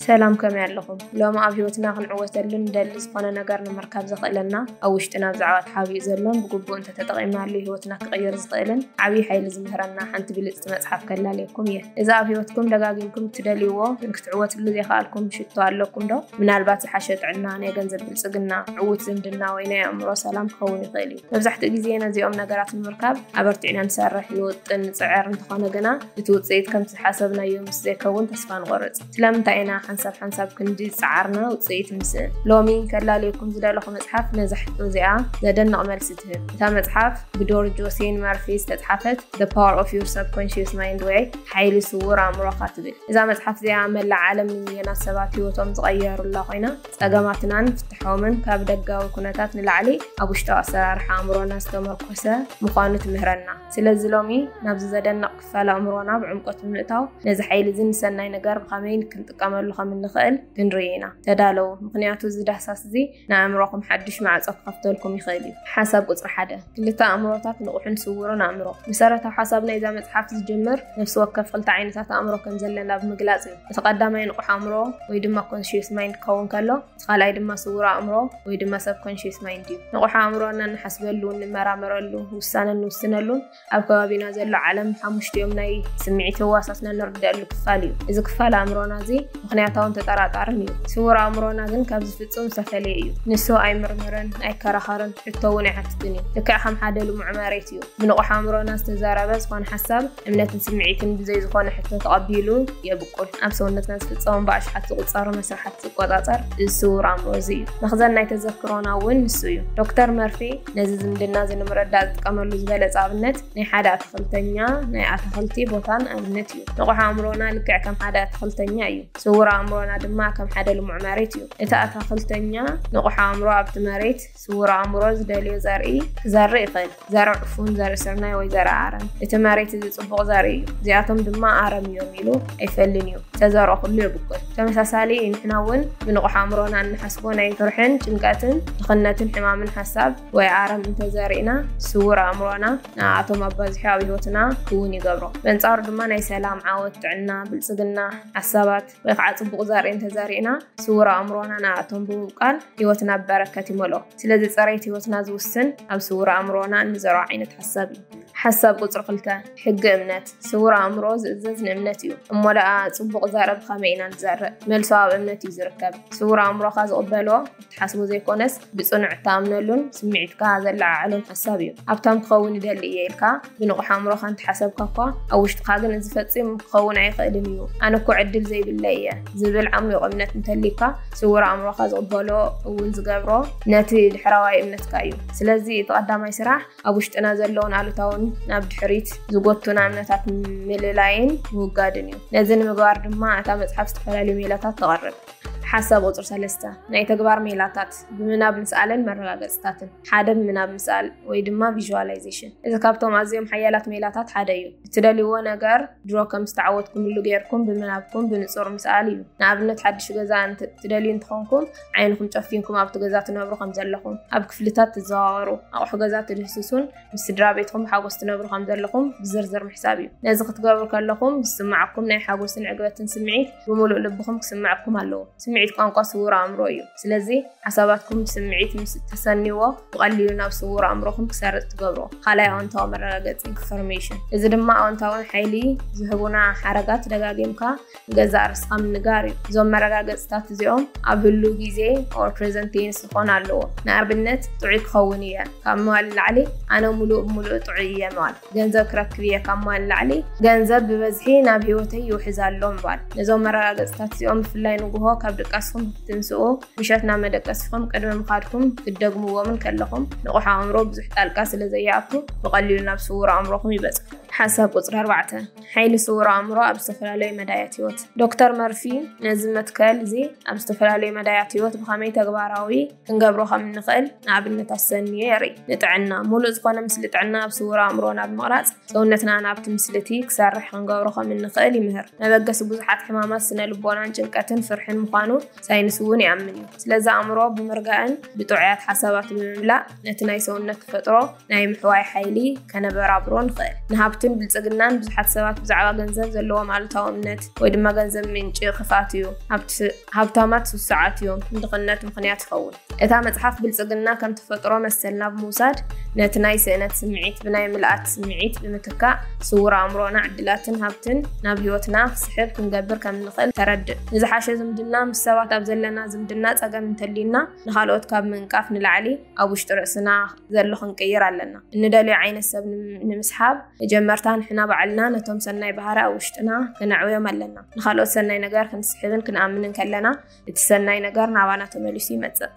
ሰላም ከመይ ኣለኹም? ሎሚ ኣብ ህይወትና ክንዕወተሉ ንደሊ ዝኾነ ነገር ንምርካብ ዘኽእለና ኣብ ውሽጥና ብዛዕባ ተሓቢኡ ዘሎን ብግቡእ እንተተጠቒምናሉ ህይወትና ክቕይር ዝኽእልን ዓብዪ ሓይሊ ዝምህረና ሓንቲ ብልፅቲ መፅሓፍ ከላልየኩም እየ። እዚ ኣብ ህይወትኩም ደጋጊምኩም እትደልይዎ ግን ክትዕወትሉ ዘይከኣልኩም ሽቶ ኣለኩም ዶ? ምናልባት ዝሓሸ ጥዕና፣ ናይ ገንዘብ ብልፅግና፣ ዕዉት ዝምድና ወይ ናይ ኣእምሮ ሰላም ክኸውን ይኽእል እዩ። መብዛሕትኡ ግዜ ነዚኦም ነገራት ንምርካብ ኣበርቲዕና ንሰርሕ፣ ንውጥን፣ ንፅዕር፣ እንተኾነ ግና እቲ ውፅኢት ከምቲ ዝሓሰብናዮ ምስ ዘይከውን ተስፋ ንቆርጽ። ስለምንታይ ኢና ሓንሳብ ሓንሳብ ክንዲ ዝጸዓርና ውጽኢት ንስእን? ሎሚ ከላልየኩም ዝደለኹ መጽሓፍ ነዛ ሕቶ እዚኣ ዘደንቕ መልሲ ትህብ። እታ መጽሓፍ ብዶር ጆሴን መርፊ ዝተጽሓፈት The Power of Your Subconscious Mind ወይ ሓይሊ ስዉር ኣእምሮኻ ትብል። እዛ መጽሓፍ እዚኣ መላእ ዓለም ንሚልዮናት ሰባት ህይወቶም ዝቐየሩላ ኮይና ጸገማትናን ፍትሖምን ካብ ደጋዊ ኩነታት ንላዕሊ ኣብ ውሽጣዊ ኣሰራርሓ ኣእምሮና ዝተመርኮሰ ምዃኑ ትምህረና። ስለዚ ሎሚ ናብዚ ዘደንቕ ክፋል ኣእምሮና ብዕምቆት ብምእታው ነዚ ሓይሊ እዚ ንሰናይ ነገር ብኸመይ ክንጥቀመሉ ከም እንኽእል ክንርኢ ኢና። ተዳለዉ፣ ምኽንያቱ እዚ ዳህሳስ እዚ ንኣእምሮኹም ሓድሽ ማዕጾ ክኸፍተልኩም ይኽእል እዩ። ሓሳብ ቁጽሪ ሓደ፣ ክልተ ኣእምሮታት፣ ንቑሕን ስዉርን ኣእምሮ። መሰረታዊ ሓሳብ ናይዛ መጽሓፍ ዝጅምር ነፍሲ ወከፍ ክልተ ዓይነታት ኣእምሮ ከም ዘለና ብምግላጽ እዩ። እቲ ቀዳማይ ንቑሕ ኣእምሮ ወይ ድማ ኮንሽየስ ማይንድ ክኸውን ከሎ፣ እቲ ካልኣይ ድማ ስዉር ኣእምሮ ወይ ድማ ሰብ ኮንሽየስ ማይንድ እዩ። ንቑሕ ኣእምሮ ነንሓስበሉ፣ ንመራመረሉ፣ ውሳነ ንውስነሉን ኣብ ከባቢና ዘሎ ዓለም ብሓሙሽቲኦም ናይ ስምዒት ህዋሳትና እንርድኣሉ ክፋል እዩ። እዚ ክፋል ኣእምሮና እዚ ምኽንያታውን ተጠራጣርን እዩ። ስውር ኣእምሮና ግን ካብዚ ፍጹም ዝተፈልየ እዩ። ንሱ ኣይምርምርን፣ ኣይከራኸርን፣ ሕቶ እውን ኣይሓትትን እዩ። ልክዕ ከም ሓደ ልሙዕ መሬት እዩ። ብንቑሕ ኣእምሮና ዝተዛረበ ዝኾነ ሓሳብ፣ እምነትን ስምዒትን ብዘይ ዝኾነ ሕቶ ተቐቢሉ የብቁል። ኣብ ሰውነትና ዝፍጸሙ ብኣሽሓት ዝቑጸሩ መስርሓት ዝቆጻጸር እዚ ስውር ኣእምሮ እዚ እዩ። መኽዘን ናይ ተዘክሮና እውን ንሱ እዩ። ዶክተር መርፌ፣ ነዚ ዝምድና እዚ ንምረዳእ ዝጥቀመሉ ዝበለጸ ኣብነት ናይ ሓደ ኣትኽልተኛ ናይ ኣታኽልቲ ቦታን ኣብነት እዩ። ንቑሕ ኣእምሮና ልክዕ ከም ሓደ ኣትኽልተኛ እዩ። ስውር ኣእምሮና ድማ ከም ሓደ ልሙዕ መሬት እዩ። እቲ ኣታኽልተኛ ንቑሕ ኣእምሮ ኣብቲ መሬት ስውር ኣእምሮ ዝደልዮ ዘርኢ ክዘርእ ይኽእል። ዘርኢ ዕፉን፣ ዘርኢ ስርናይ ወይ ዘርኢ ኣረም። እቲ መሬት እዚ ጽቡቕ ዘርኢ እዩ፣ እዚኣቶም ድማ ኣረም እዮም ኢሉ ኣይፈልን እዩ። ዝተዘርኦ ኩሉ የብቁል። ተመሳሳሊ ንሕና እውን ብንቑሕ ኣእምሮና እንሓስቦ ናይ ፍርሕን ጭንቀትን ድኽነትን ሕማምን ሓሳብ ወይ ኣረም እንተዘሪእና ስውር ኣእምሮና ንኣቶም ኣባዚሑ ኣብ ህይወትና ክውን ይገብሮ በንጻሩ ድማ ናይ ሰላም ዓወት ጥዕና ብልጽግና ሓሳባት ወይ ከዓ ጽቡቕ ዘርኢ እንተዘሪእና ስውር ኣእምሮና ንኣቶም ብምብቃል ህይወትና ብበረከት ይመልኦ ስለዚ ጸረይት ህይወትና ዝውስን ኣብ ስውር ኣእምሮና እንዘርዖ ዓይነት ሓሳብ እዩ ሓሳብ ቁፅሪ ክልተ ሕጊ እምነት ስውር ኣእምሮ ዝእዘዝ ንእምነት እዩ። እሞ ደኣ ጽቡቕ ዘረብ ብኸመይ ኢና ንዘርእ? መልሱ ኣብ እምነት እዩ ዝርከብ። ስውር ኣእምሮኻ ዝቕበሎ እትሓስቦ ዘይኮነስ ብጽኑዕ እትኣምነሉን ስምዒትካ ዘለዓዕሎን ሓሳብ እዩ። ሃብታም ክኸውን ይደሊ እየ ኢልካ ብንቑሕ ኣእምሮኻ እንተሓሰብካ እኳ፣ ኣብ ውሽጥኻ ግን እዚ ፈጺሙ ክኸውን ኣይኽእልን እዩ፣ ኣነ እኮ ዕድል ዘይብለይ እየ ዝብል ዓሚቝ እምነት እንተልዩካ፣ ስውር ኣእምሮኻ ዝቕበሎ እውን ዝገብሮ ነቲ ድሕረዋይ እምነትካ እዩ። ስለዚ እቲ ቀዳማይ ስራሕ ኣብ ውሽጥና ዘለዉን ኣሉታውን ናብ ድሕሪት ዝጎቱና እምነታት ምልላይን ምውጋድን እዩ። ነዚ ንምግባር ድማ እታ መጽሓፍ ዝተፈላለዩ ሜላታት ተቐርብ። ሓሳብ ቁፅሪ ሰለስተ ናይ ተግባር ሜላታት ብምናብ ምስኣልን መረጋገፅታትን ሓደ ብምናብ ምስኣል ወይ ድማ ቪዥዋላይዜሽን እዚ ካብቶም ኣዝዮም ሓያላት ሜላታት ሓደ እዩ እትደልይዎ ነገር ድሮ ከም ዝተዓወትኩምሉ ገይርኩም ብምናብኩም ብንፁር ምስኣል እዩ ንኣብነት ሓድሽ ገዛ ትደልዩ እንትኾንኩም ዓይንኹም ጨፊንኩም ኣብቲ ገዛ ትነብሩ ከም ዘለኹም ኣብ ክፍልታት ትዘዋወሩ ኣቑሑ ገዛ ትድህስሱን ምስ ስድራ ቤትኩም ሓጎስ ትነብሩ ከም ዘለኹም ብዝርዝር ምሕሳብ እዩ ነዚ ክትገብሩ ከለኹም ዝስማዓኩም ናይ ሓጎስን ዕግበትን ስምዒት ብምሉእ ልብኹም ክስምዐኩም ኣለዎ ስምዒት ቋንቋ ስውር ኣእምሮ እዩ ስለዚ ሓሳባትኩም ብስምዒት ምስ እተሰንይዎ ብቐሊሉ ናብ ስውር ኣእምሮኹም ክሰርፅ ትገብሮ ካልኣይ ኣወንታዊ መረጋገፂ ኢንፎርሜሽን እዚ ድማ ኣወንታውን ሓይሊ ዝህቡና ሓረጋት ደጋጊምካ ንገዛእ ርእስኻ ምንጋር እዩ። እዞም መረጋገጽታት እዚኦም ኣብ ህሉው ግዜ or present tense ክኾን ኣለዎ። ንኣብነት ጥዑይ ክኸውን እየ ካብ ምባል ንላዕሊ ኣነ ምሉእ ብምሉእ ጥዑይ እየ ምባል። ገንዘብ ክረክብ እየ ካብ ምባል ንላዕሊ ገንዘብ ብበዝሒ ናብ ህይወተይ ይውሕዝ ኣሎ ምባል። ነዞም መረጋገጽታት እዚኦም ብፍላይ ንጉሆ ካብ ድቃስኹም ክትንስኡ፣ ምሸት ናብ መደቀሲኹም ቅድሚ ምኻድኩም ክትደግምዎም እንከለኹም ንቑሕ ኣእምሮ ብዙሕ ጣልቃ ስለዘይኣቱ ብቐሊሉ ናብ ስዉር ኣእምሮኹም ይበጽሑ። ሓሳብ ቁጽሪ ኣርባዕተ። ሓይሊ ስውር ኣእምሮ ኣብ ዝተፈላለዩ መዳያት ህይወት ዶክተር መርፊ ነዚ መትከል እዚ ኣብ ዝተፈላለዩ መዳያት ህይወት ብኸመይ ተግባራዊ ክንገብሮ ከም እንኽእል ንኣብነት ኣሰንዮ የርኢ ንጥዕና ሙሉእ ዝኾነ ምስሊ ጥዕና ኣብ ስውር ኣእምሮ ናብ ምቕራፅ ሰውነትና ናብቲ ምስሊ እቲ ክሰርሕ ክንገብሮ ከም እንኽእል ይምህር መበገሲ ብዙሓት ሕማማት ስነ ልቦናን ጭንቀትን ፍርሕን ምዃኑ ሳይንስ እውን ይኣምን እዩ ስለዚ ኣእምሮ ብምርጋእን ብጥዑያት ሓሳባት ብምምላእ ነቲ ናይ ሰውነት ተፈጥሮ ናይ ምሕዋይ ሓይሊ ከነበራብሮ ንኽእል። ንሃብትን ብልጽግናን ብዙሓት ሰባት ብዛዕባ ገንዘብ ዘለዎም ኣሉታዊ እምነት ወይ ድማ ገንዘብ ምንጪ ክፍኣት እዩ፣ ሃብታማት ስሱዓት እዮም፣ ንድኽነት ምኽንያት ይኸውን። እታ መጽሓፍ ብልጽግና ከም ተፈጥሮ መሰልና ብምውሳድ ነቲ ናይ ስእነት ስምዒት ብናይ ምልኣት ስምዒት ብምትካእ ስውር ኣእምሮና ዕድላትን ሃብትን ናብ ህይወትና ክስሕብ ክንገብር ከም እንኽእል ተረድእ። ንዝሓሸ ዝምድና ምስ ሰባት ኣብ ዘለና ዝምድና ጸገም እንተልዩና ንኻልኦት ካብ ምንቃፍ ንላዕሊ ኣብ ውሽጢ ርእስና ዘሎ ክንቅይር ኣለና። እንደልዮ ዓይነት ሰብ ንምስሓብ መጀመርታ ንሕና ባዕልና ነቶም ሰናይ ባህሪ ኣብ ውሽጥና ከነዕውዮም ኣለና። ንኻልኦት ሰናይ ነገር ክንስሕብን ክንኣምንን ከለና እቲ ሰናይ ነገር ናባና ተመሊሱ ይመጽእ።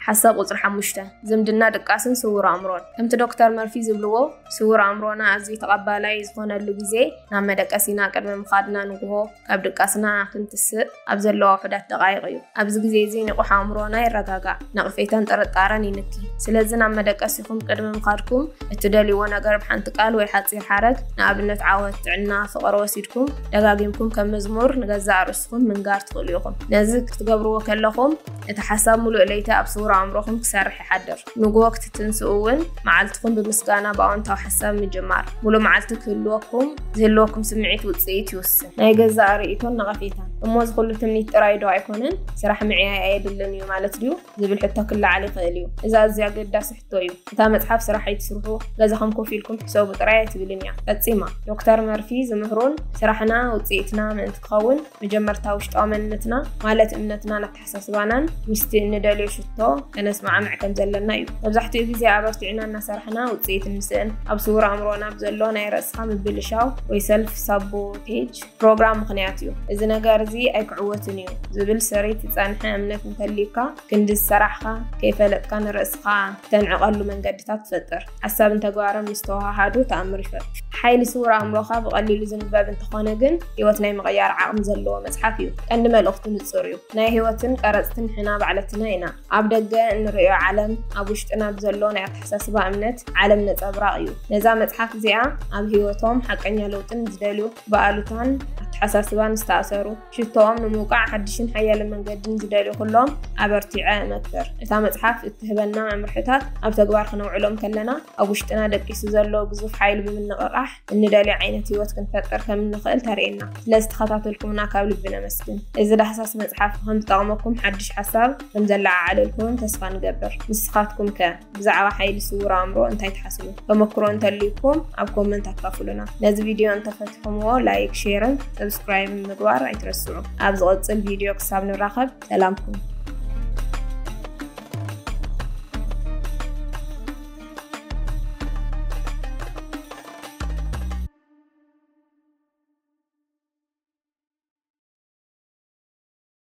ሓሳብ ቁፅሪ ሓሙሽተ ዝምድና ድቃስን ስውር ኣእምሮን ከምቲ ዶክተር መርፊ ዝብልዎ ስውር ኣእምሮና ኣዝዩ ተቐባላይ ዝኾነሉ ግዜ ናብ መደቀሲና ቅድሚ ምኻድና ንግሆ ካብ ድቃስና ክንትስእ ኣብ ዘለዋ ውሑዳት ደቓይቕ እዩ። ኣብዚ ግዜ እዚ ንቑሕ ኣእምሮና ይረጋጋእ፣ ነቕፌታን ጥርጣረን ይንኪ። ስለዚ ናብ መደቀሲኹም ቅድሚ ምኻድኩም እትደልይዎ ነገር ብሓንቲ ቃል ወይ ሓጺር ሓረግ፣ ንኣብነት ዓወት፣ ጥዕና፣ ፍቕሪ፣ ወሲድኩም ደጋጊምኩም ከም መዝሙር ንገዛእ ርእስኹም ምንጋር ትኽእሉ ኢኹም። ነዚ ክትገብርዎ ከለኹም እቲ ሓሳብ ምሉእ ለይቲ ኣብ ስዉር ኣእምሮኹም ክሰርሕ ይሓድር። ንግሆ ክትትንስኡ እውን መዓልትኹም ብምስጋና ብኣወንታዊ ሓሳብ ምጅማር ሙሉእ መዓልቲ ክህልወኩም ዝህልወኩም ስምዒት ውፅኢት ይውስን። ናይ ገዛእ ርእይቶን ነቐፌታን። እሞ እዚ ኩሉ ትምኒት ጥራይ ዶ ኣይኮነን? ስራሕ ምዕያይ ኣየድልን እዩ ማለት ድዩ? ዝብል ሕቶ ክለዓል ይኽእል እዩ። እዚ ኣዝዩ ኣገዳሲ ሕቶ እዩ። እታ መፅሓፍ ስራሕ ኣይትስርሑ፣ ገዛኹም ኮፍ ኢልኩም ሕሰቡ ጥራይ ኣይትብልን እያ። ፈፂማ! ዶክተር መርፊ ዝምህሩን ስራሕና ውፅኢትና ምእንቲ ክኸውን መጀመርታ ውሽጣዊ መንነትና ማለት እምነትናን ኣተሓሳስባናን ምስቲ እንደልዮ ሽቶ ከነስማዕምዕ ከም ዘለና እዩ። መብዛሕትኡ ግዜ ኣበርቲዕና እናሰራሕና ውጽኢት እንስእን ኣብ ስውር ኣእምሮና ብዘሎ ናይ ርእስኻ ምብልሻው ወይ ሰልፍ ሳቦቴጅ ፕሮግራም ምኽንያት እዩ። እዚ ነገር እዚ ኣይክዕወትን እዩ ዝብል ሰሪት ዝጸንሐ እምነት እንተልዩካ ክንዲ ዝሰራሕኻ ከይፈለጥካ ንርእስኻ እተንዕቐሉ መንገድታት ፈጥር። ሓሳብን ተግባርን ምስ ተወሃሃዱ ተኣምር ይፈጥሩ። ሓይሊ ስውር ኣእምሮኻ ብቐሊሉ ዝንበብ እንተኾነ ግን ህይወት ናይ ምቕያር ዓቕሚ ዘለዎ መጽሓፍ እዩ። ቀንዲ መልእኽቱ ንጹር እዩ፣ ናይ ህይወትን ቀረጽትን ንሕና ባዕለትና ኢና። ኣብ ደገ እንርእዮ ዓለም ኣብ ውሽጥና ብዘሎ ናይ ኣተሓሳስባ እምነት ዓለም ነጸብራቕ እዩ። ነዛ መጽሓፍ እዚኣ ኣብ ህይወቶም ሓቀኛ ለውጢ ንዝደልዩ፣ ብኣሉታን ኣተሓሳስባን ዝተኣሰሩ፣ ሽቶኦም ንምውቃዕ ሓድሽን ሓያልን መንገድን ዝደልዩ ኩሎም ኣበርቲዐ እመክር። እታ መጽሓፍ እትህበና መምርሕታት ኣብ ተግባር ክነውዕሎም ከለና፣ ኣብ ውሽጥና ደቂሱ ዘሎ ግዙፍ ሓይሊ ብምንቕቓሕ እንደልዮ ዓይነት ህይወት ክንፈጥር ከም እንኽእል ተርእየና። ስለ ዝተኸታተልኩምና ካብ ልቢ ነመስግን። እዚ ዳህሳስ መጽሓፍ ከም ዝጠቕመኩም ሓድሽ ሓሳብ ከም ዘለዓዓለልኩምን ተስፋ ንገብር። ንስኻትኩም ከ? ብዛዕባ ሓይሊ ስውር ኣእምሮ እንታይ ትሓስቡ? ተመክሮ እንተልዩኩም ኣብ ኮመንት ኣካፍሉና። ነዚ ቪድዮ እንተፈትሕምዎ ላይክ፣ ሼርን ሰብስክራይብን ምግባር ኣይትረስዑ። ኣብ ዝቕጽል ቪድዮ ክሳብ ንራኸብ ሰላም ኩኑ።